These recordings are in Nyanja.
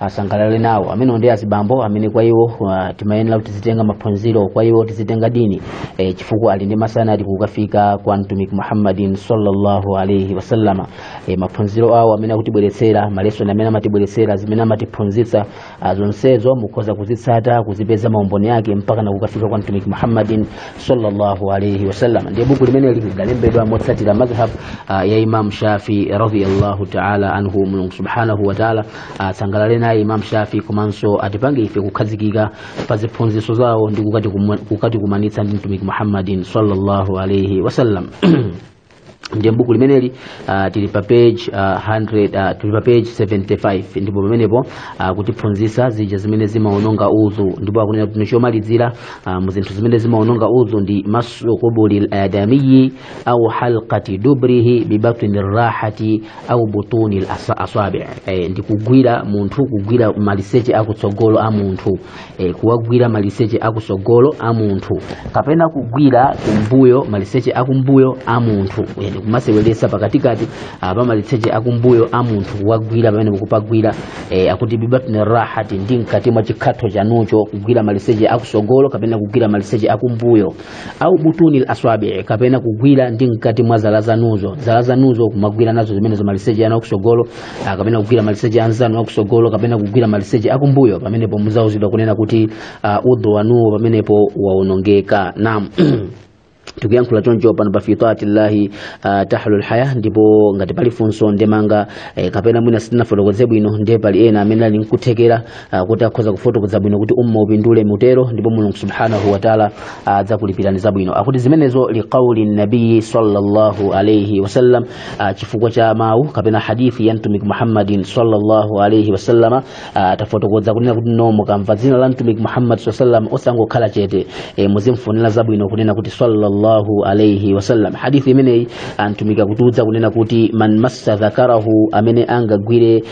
asangalale nawo amene ndi azibambo amene kwa iwo uh, timayenera kuti tizitenga maphunziro kwa iwo tizitenga dini e, chifukwa ali ndi masanadi kukafika kwa mtumiki muhammadin sallallahu alaihi wasallama e, maphunziro awo amene akutibweretsera malesoni amene amatibweretsera zimene amatiphunzitsa ah, zonsezo mukhoza kuzitsata kuzipeza maumboni ake mpaka na kukafika kwa mtumiki muhammadin sallallahu alaihi wasallama ndiye buku limeneli lidalembedwa motsatira madhhab ah, ya imam shafi radiyallahu taala anhu mulungu subhanahu wa taala asangalale naye imam shafi komanso atipange ife kukhazikika pa ziphunzitso zawo ndi kukatikumwa- kukatikumanitsa ndi mtumiki muhammadin sallallahu alaihi wasallam ndiye buku limeneli uh, tili pa page uh, 100 uh, tili pa page 75 ndipo pamenepo uh, kutiphunzitsa zija zimene zimaononga udhu ndipo akunena kuti chomalizira uh, mu zinthu zimene zimaononga udhu ndi massu qubulil adamiyi au halqati duburihi bibatni rahati au butunil asabi e, ndi kugwira munthu kugwira maliseche akutsogolo a munthu e, kuwagwira maliseche akutsogolo a munthu kapena kugwira kumbuyo maliseche akumbuyo a munthu e, ndi kumaseweretsa pakatikati ah, pa maliseche akumbuyo a munthu kuwagwira pamene mukupagwira e, akuti bibatni rahati ndi mkati mwa chikhatho chanucho kugwira maliseche akutsogolo kapena kugwira maliseche akumbuyo au butunil aswabii kapena kugwira ndi mkati mwa zala zanuzo zala zanuzo kumagwira nazo zimene za maliseche anu akusogolo ah, kapena kugwira maliseche anzanu akusogolo kapena kugwira maliseche akumbuyo pamenepo muzauzidwa kunena kuti uh, udhu wanuwo pamenepo waonongeka naam tikuyankhula choncho pano pa fitati llahi uh, tahlu lhaya ndipo ngati pali funso ndemanga eh, kapena mwina sitinafotokoze bwino ndiye pali ena amene ali nkuthekera ah, kuti akhoza kufotokoza bwino kuti umma upindule mutero ndipo mulungu subhanahu wataala adzakulipirani zabwino akuti zimenezo liqauli nabiyi sallallahu alaihi wasallam ah, chifukwa cha mawu kapena hadithi ya mtumiki muhammadin sallallahu alaihi wasallama ah, tafotokoza kunena kuti no mukamva dzina la mtumiki muhammad sallallahu alaihi wasallam osangokhala chete e, muzimfunira zabwino kunena kuti sallallahu alaihi wasallam hadithi imeneyi ah, mtumiki akutiuza kunena kuti man massa dhakarahu amene angagwire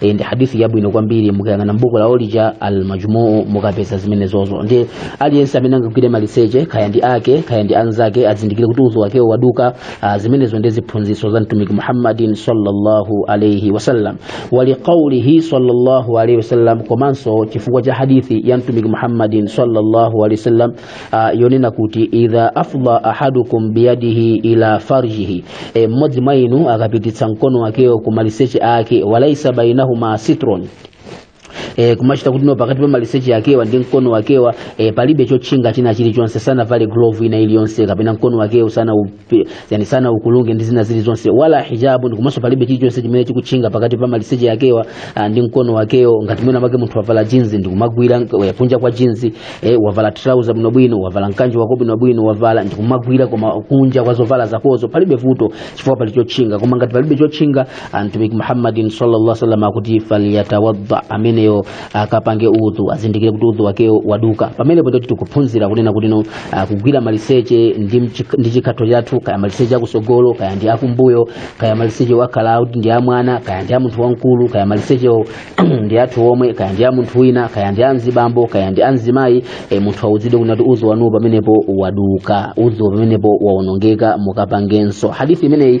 e, ndi hadithi yabwino kwambiri mukayang'ana mbuku la olija al majmuu mukapeza zimenezozo ndiye aliyense amene angagwire maliseche kaya ndi ake kaya ndi anzake azindikire kuti udhu wakewo waduka ah, zimenezo ndi ziphunzitso za mtumiki muhammadin sallallahu alaihi wasallam waliqaulihi sallallahu alaihi wasallam komanso chifukwa cha hadithi ya mtumiki muhammadin sallallahu alaihi wasallam ah, yonena kuti idha afdha ahadukum biyadihi ila farjihi e, mmodzi mwa inu akapititsa mkono wakewo ku maliseche ake walaisa bainahuma sitrun e, kumachita kuti no pakati pa maliseche akewa ndi mkono wakewa e, palibe chotchinga china chilichonse sanavale glove ina iliyonse kapena mkono wakewo sana Pi- yani sana ukulunge ndi zina zilizonse wala hijabun komanso palibe chilichonse chimene chikutchinga pakati pa maliseche akewo ah, ndi mkono wakewo ngati mwina make munthu wavala jinzi ndikumagwira nk- eh, kunja kwa jinzi eh, wavala trouser bwinobwino wavala mkanjo wako bwinobwino wavala ndikumagwira koma kunja kwa zovala zakozo palibe vuto chifukwa pali chotchinga koma ngati palibe chotchinga ah, mtumiki muhammadin sallallahu alaihi wasallam akuti falyatawadda ameneyo akapange udhu azindikire kuti udhu wakewo waduka pamenepo ndoti tikuphunzira kunena kuti no ah, kugwira maliseche ndi mchik- ndi chikhatho chathu kaya maliseche akusogolo kaya ndi akumbuyo kaya maliseche akhala kuti ndi amwana kaya ndi a munthu wamkulu kaya malisechewo ndi athu omwe kaya ndi a munthu wina kaya ndi a mzibambo kaya ndi a mzimayi e, munthu awuzidwe kunena kuti udhu wanuwo pamenepo waduka udhu pamenepo waonongeka mukapangenso hadithi imeneyi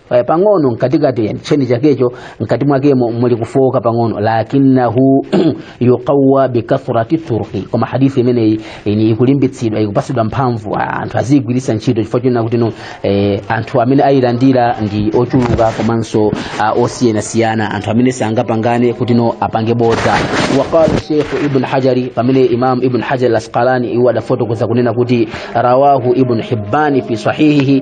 Eh, pang'ono mkatikati yani cheni chakecho mkati mwakemo muli kufooka pang'ono lakinnahu yuqawwa bikathrati turuqi koma hadithi imeneyi ini ikulimbitsidwa ikupatsidwa mphamvu ah, anthu aziigwiritsa ntchito chifukwa chonena kuti no eh, anthu amene ayilandira ndi ochuluka komanso ah, osiyanasiyana anthu amene sangapangane kuti no apange bodza waqala sheikhu ibnu hajari pamene imam ibn hajar al-asqalani iwo adafotokoza kunena kuti rawahu ibn hibbani fi sahihihi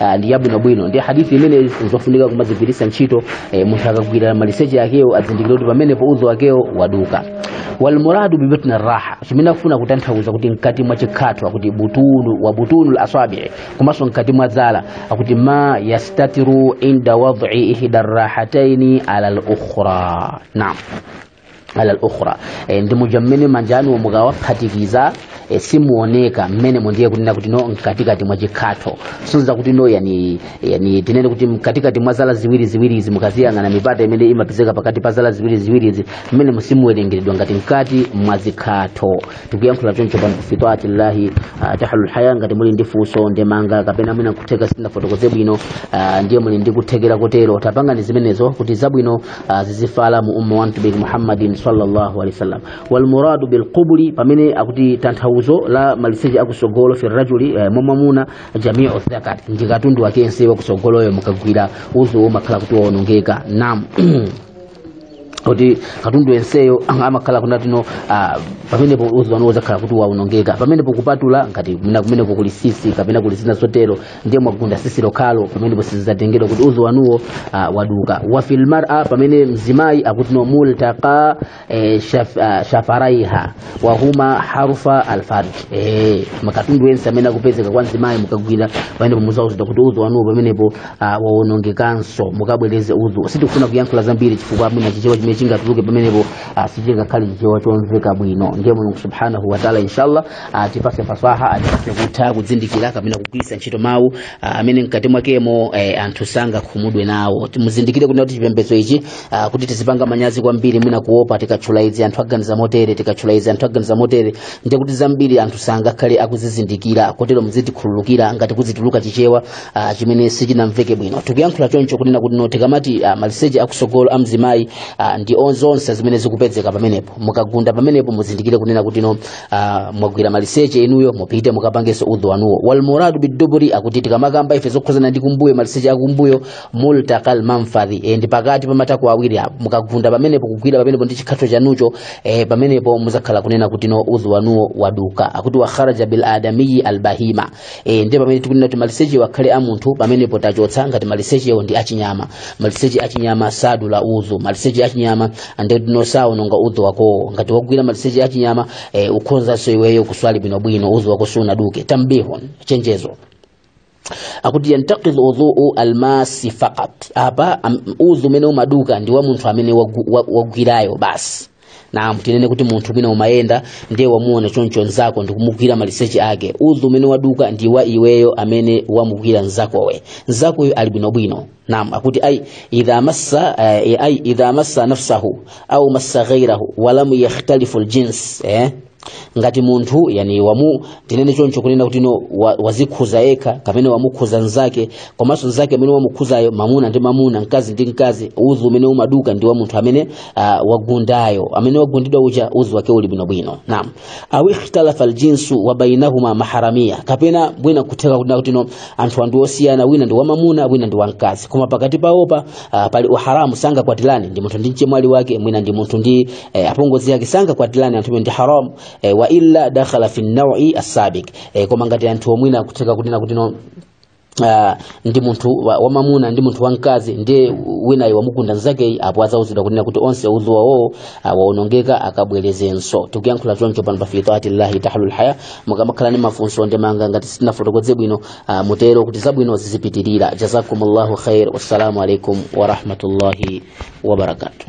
ah, ndi yabwino bwino ndi hadithi imene nzofunika kumaigwiritsa ntchito eh, munthu akagwira maliseche akewo azindikire kuti pamenepo udhu wakewo waduka walmuradu bibatni rraha chimene akufuna kutanthauza kuti mkati mwa chikhatho akuti butunu wa butunu lasabii komanso mkati mwa dzala akuti ma yastatiru inda wadhi ihda rrahataini ala lukhra naam ala al-ukhra e, ndi muja mmene manja anuwo mukawaphatikiza e, simuoneka mmenemo ndiye kunena kuti no mkatikati mwa chikhatho kusonyeza kuti no yani, yani tinene kuti mkatikati mwa zala ziwiri ziwirizi mukaziyang'ana mipata imene imapezeka pakati pa zala ziwiri ziwirizi mmenemo simuwerengeredwa ngati mkati mwa zikhatho tikuyankhulira choncho pano fi ta'ati llahi ah, tahlul haya ngati muli ndi funso ndemanga kapena mwina kutheka sindinafotokoze bwino ah, ndiye muli ndi kuthekera kotero tapangani zimenezo kuti zabwino ah, zizifala mu umma wa mtumiki muhammadin sallallahu alaihi wasallam walmuradu bilqubuli pamene akuti tanthauzo la maliseche akusogolo fi rajuli eh, mwa mwamuna jamiu dhakari ndi katundu wake yense wakusogoloyo mukagwira udhuwo umakhala kuti waonongeka naam kuti katundu yenseyo amakhala kunena kuti no ah, pamenepo udhu wanuwo uzakhala kuti waonongeka pamenepo kupatula ngati mina- kumeneko kuli tsitsi kapena kuli zina zotero ndiye mwagunda tsitsi lokhalo pamenepo sizizatengedwa kuti udhu wanuwo ah, waduka wafil mar'a pamene mzimayi akuti no multaqa eh, shaf, ah, shafaraiha wahuma harufa alfarj eh makatundu yense amene akupezeka kwa mzimayi mukagwira pamene muzauza kuti udhu wanuwo pamenepo ah, wawonongekanso mukabwereze udhu sitikufuna kuyankhula zambiri chifukwa mwina chichewa chimene chingatuluke pamenepo ah, sichingakhale chichewa chomveka bwino ndiye mulungu subhanahu wataala inshallah atipase fasaha atipase kutha kuzindikira kapena kugwiritsa ntchito mawu ah, amene mkati mwakemo eh, anthu sangakhumudwe nawo muzindikire kuti chipembedzo ichi Ah, kuti tizipanga manyazi kwambiri mwina kuopa tikatchula izi anthu aganiza motere tikatchula izi anthu aganiza motere ndiye kuti zambiri anthu sangakhale akuzizindikira kotero muzitikhululukira ngati kukutuluka chichewa ah, chimene sichinamveke bwino tikuyankhula choncho kunena kuti no tikamati ah, maliseche akusogolo a mzimayi ah, ndi on- zonse zimene zikupezeka pamenepo mukagunda pamenepo muzindikire kunena kuti no ah, mwagwira maliseche inuyo mupite mukapangenso udhu wanuwo walmuradu biduburi akuti tikamakamba ife zokhuzana ndi kumbuyo maliseche akumbuyo multakal manfadhi e, ndi pakati pa matako awiri apo mukagunda pamenepo kugwira pamenepo ndi chikhatho chanucho e, pamenepo muzakhala kunena kuti no udhu wanuwo waduka akuti wakharaja bil adamiyi albahima e, ndi pamene tikunena kuti maliseche akhale a munthu pamenepo tachotsa ngati malisechewo ndi achinyama maliseche achinyama sadula udhu maliseche achinyama ndi kuti no saononga udhu wakowo ngati wagwira maliseche achinyama e, ukhonzanso iweyo kuswali bwinobwino udhu wako sunaduke tambihun chenjezo akuti yantaqid udhuu almasi faqat apa am- udhu umene umaduka ndi wa munthu amene wagu- wa- wagwirayo basi naam tinene kuti munthu mwina umayenda ndiye wamuona choncho nzako ndikumugwira maliseche ake udhu umene waduka ndi wa iweyo amene wamugwira nzakoyo nzakoyo ali bwinobwino naam akuti ai idha massa eh, ai idha massa nafsahu au massa ghairahu walam yakhtalifu ljins eh? ngati munthu yani wamu tinene choncho kunena kuti no wa- wazikhuza yekha kapena wamukhuza nzake komanso nzake amene wamukhuzayo mamuna ndi mamuna mkazi ndi mkazi udhu umene umaduka ndi wa munthu amene uh, wagundayo amene wagundidwa uja udhu wake uli bwinobwino naam au ikhtalafa aljinsu wa bainahuma maharamia kapena mwina kutheka kunena kuti no anthu aja ndi osiyana wina ndi wamamuna wina ndi wamkazi koma pakati pawopa uh, pali uharamu sangakwatirane ndi munthu ndi mchemwali wake mwina ndi munthu ndi e, apongozi ake sangakwatirane anthu omwe ndi haram e, wa illa dakhala fi nnaui assabiq e, koma ngati anthuwo mwina kutheka kunena kuti no Uh, ndi munthu wa- wamamuna ndi munthu wamkazi ndiye winayo wamugunda nzakeyi apo adzauzidwa kunena kuti onse udhu wawowo wawonongeka akabwerezenso tikuyankhula choncho pano pa fitaati llahi tahlul haya mukamakhala ndi mafunso ndemanga ngati sitinafotokoze bwino uh, mutero kuti zabwino zizipitirira jazakumullahu khair wassalamu alaikum warahmatullahi wabarakatuh